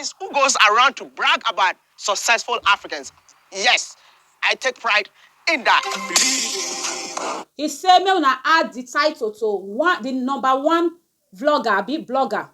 Is who goes around to brag about successful Africans. Yes, I take pride in that. He say make una add di title to one di number one vlogger abi blogger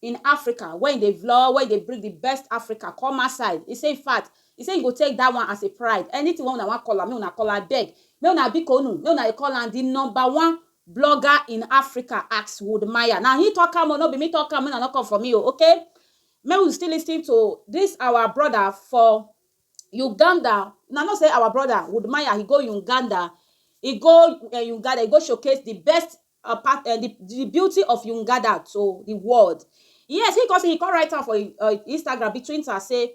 in Africa wey e dey vlog wey e dey bring di best Africa come outside. He say infact he say he go take dat one as a pride anything wey una wan call am make una call am abeg make una bikonu make una dey call am di number one blogger in Africa ask Wood Maya. Now he talk am, oh, no be me talk am, no, no come for me, oh, okay? May we still listen to this our brother for Uganda. Now not say our brother Wood Maya, he go Uganda, he go uh, Uganda, he go showcase the best uh, part, uh, the, the beauty of Uganda to the world. Yes, he cause he come write am for uh, Instagram between us say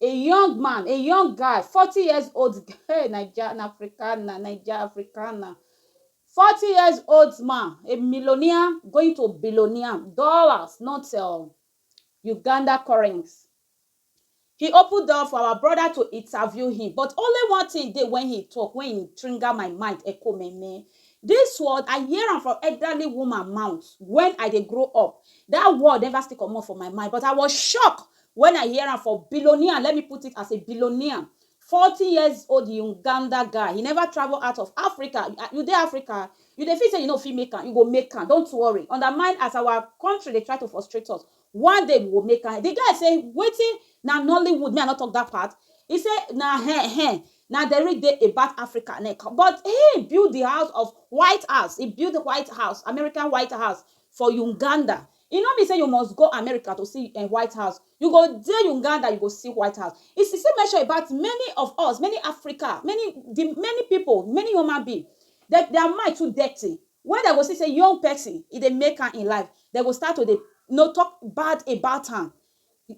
A young man, a young guy, forty years old, hey, Naija na Africana, Naija Africana. Forty years old man, a millionaire going to billionaire, dollars, not uh, Uganda currency. He opened door for our brother to interview him, but only one thing dey when he talk, when he trigger my mind, echo me me. This word, I hear am from elderly woman mouth when I dey grow up. That word never still comot for my mind, but I was shocked When I hear am for billionaire let me put it as a billionaire forty years old Uganda guy he never travel out of Africa you dey Africa you dey feel say you no fit make am you go make am don't worry undermine as our country dey try to frustrate us one day we go make am the guy say wetin na Nollywood me I no talk that part he say na hen hen na the real dey about Africa neh but him build the house of white house he build white house American white house for Uganda E no mean say you must go America to see um White House, you go dey Uganda you go see White House. E e still mention about many of us, many Africa, many di many pipo, many human being, dem dia mind too dirty, wen dem go see say young pesin e dey make am in life, dem go start to dey you know tok bad about am,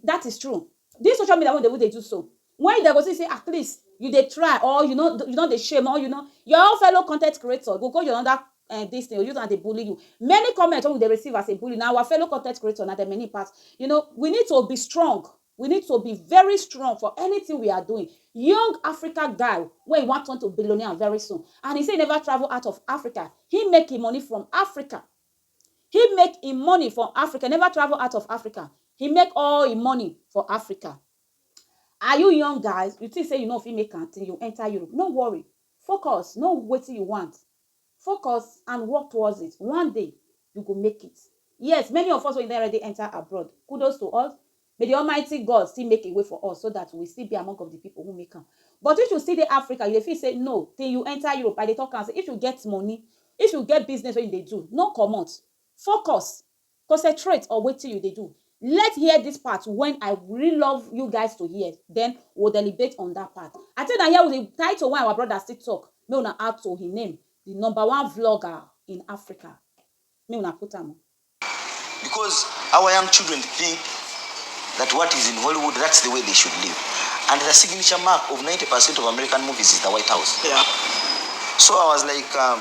dat is true. Dis social media wey we dey we dey do so, When dem go see say at least you dey try or you no you no dey shame or you no your own fellow content creator go go your under um this thing use am dey bully you many comment wey we dey receive as a bully na our fellow content creator na dem many pass you know we need to be strong we need to be very strong for anything we are doing young Africa guy wey e wan turn to billionaire very soon and e say e never travel out of Africa him make him money from Africa him make him money from Africa e never travel out of Africa he make all him money for Africa Are you young guys, you think say you no fit make am till you enter Europe, no worry, focus, know wetin you want, focus and work towards it, one day you go make it, yes many of us wey don already enter abroad, kudos to us, may the almighty God still make a way for us so that we will still be among of the people who make am, but if you still dey Africa you dey feel say no till you enter Europe, I dey talk am say if you get money, if you get business wey you dey do, no comot, focus, Concentrate on wetin you dey do let hear this part when I really love you guys to hear then we will deliberate on that part I think na here we dey title when our brother still talk make una add to him name the number one vlogger in Africa make una put am oh. Because our young children think that what is in Hollywood, that's the way they should live. And the signature mark of 90% of American movies is the White House. Yeah. So I was like, um,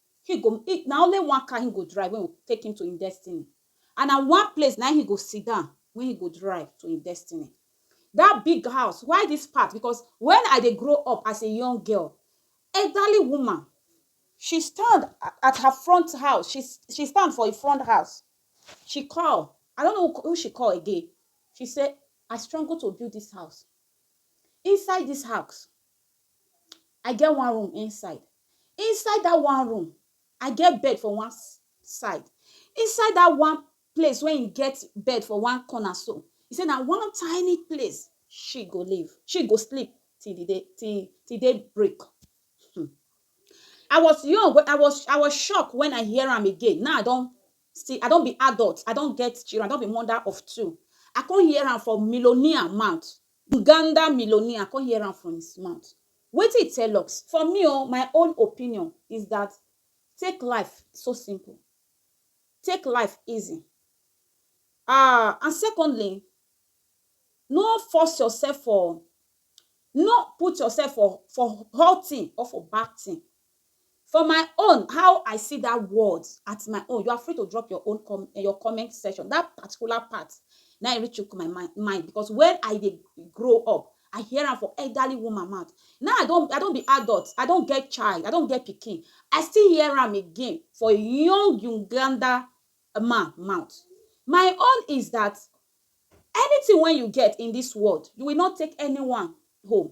He go, he, na only one car he go drive wey go take him to him destiny and na one place na him he go sit down wey he go drive to him destiny. That big house, why this part because when I dey grow up as a young girl, elderly woman, she stand at her front house, she, she stand for him front house, she call, I no know who she call again, she say, I struggle to build this house, inside this house, I get one room inside. Inside dat one room, I get bed for one side. Inside dat one place wey im get bed for one corner so, e say na one tiny place she go live, she go sleep till the day till till day break. um I was young wen I was I was shocked wen I hear am again, now I don still I don be adult, I don get children, I don be mother of two. I come hear am from millionaire mouth Uganda millionaire come hear am from his mouth wetin he tell us for me o my own opinion is that take life so simple take life easy ahh and secondly no force yourself for no put yourself for for hot thing or for bad thing For my own how I see that word at my own you are free to drop your own com eh, your comment section that particular part na im reach my mind mind because when I dey grow up I hear am for elderly woman mouth now I don I don be adult I don get child I don get pikin I still hear am again for a young Uganda man mouth my own is that anything wey you get in this world you will not take anyone home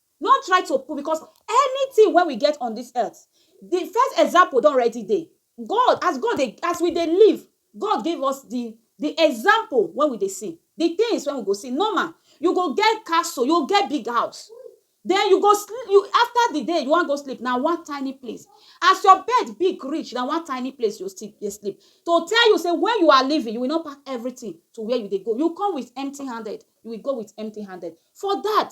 No try to put because anything wey we get on this earth, the first example don already dey. God, as God dey, as we dey live, God give us the the example wey we dey see, the things wey we go see. Normal, you go get castle, you go get big house, then you go sleep, you after the day you wan go sleep, na one tiny place. As your bed big reach, na one tiny place you go still dey sleep. To tell you say when you are living, you will not pack everything to where you dey go. You come with empty handed, you will go with empty handed. For that,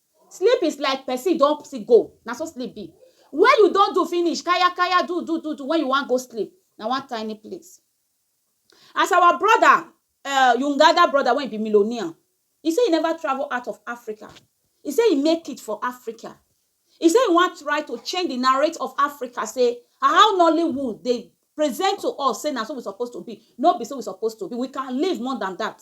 Sleep is like person don psi go, na so sleep be. When you don do finish, kaya kaya, do do do do, when you wan go sleep, na one tiny place. As our brother, um Uganda brother wey e be millionaire, e say e never travel out of Africa, e say e make it for Africa, e say e wan try to change the narrate of Africa say how Nollywood dey present to us say na so we suppose to be, no be so we suppose to be, we can live more than that.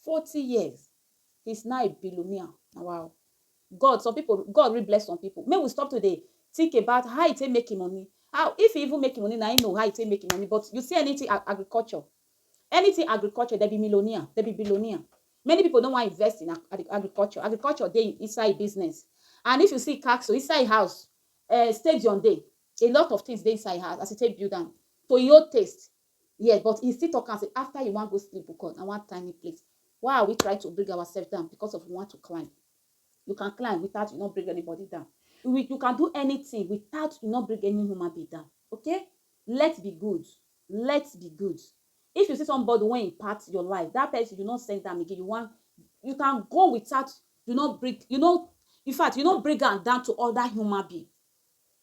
Forty years since na e be Lumia na wa o. God some people God really bless some people make we stop to dey think about how e take make e money how if e even make e money na him know how e take make e money but you see anything agriculture anything agriculture dem be millionaire dem be billionaire many people no wan invest in agriculture agriculture dey inside business and if you see castle inside e house um stadium dey a lot of things dey inside e house as e take build am to e own taste Yes, but he still talk am say after he wan go sleep bukor na one tiny place. Why are we trying to bring ourself down because of we want to climb? You can climb without you no bring anybody down. We, you can do anything without you no bring any human being down. Okay? Let's be good. Let's be good. If you see somebody wey impact your life, that person you no send am again. You wan you can go without you no bring you no in fact you no bring am down to other human being.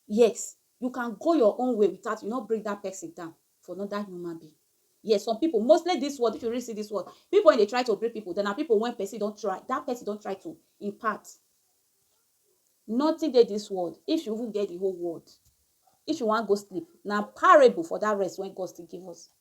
Yes, you can go your own way without you no bring that person down for another human being. Yes, some people, mostly this world, if you really see this world, people when they try to bring people, then are people when person don't try, that person don't try to impart. Nothing dey this world, if you even get the whole world, if you wan go sleep, na parable for that rest when God still give us.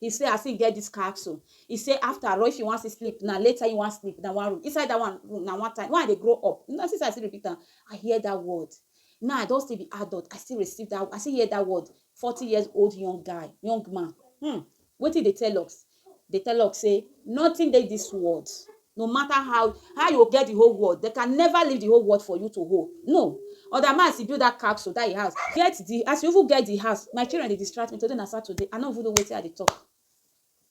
He say as him get this capsule, he say after ro if you wan still sleep na later him wan sleep na one room inside that one room na one time when I dey grow up una see say I still repeat am I hear that word now I don still be adult I still receive that I still hear that word forty years old young guy young man hmm wetin he dey tell us dey tell us say nothing dey this world No matter how how you go get the whole world, they can never leave the whole world for you to hold. No. Other man as he build that capsule, that he house, get the as you even get the house, my children dey distract me today na Saturday, I no even know wetin I dey talk.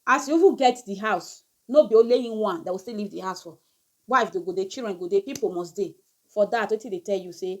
As you even get the house, no be only him one that will still leave the house for. Wife dey go dey, children go dey, people must dey. For that, wetin dey tell you say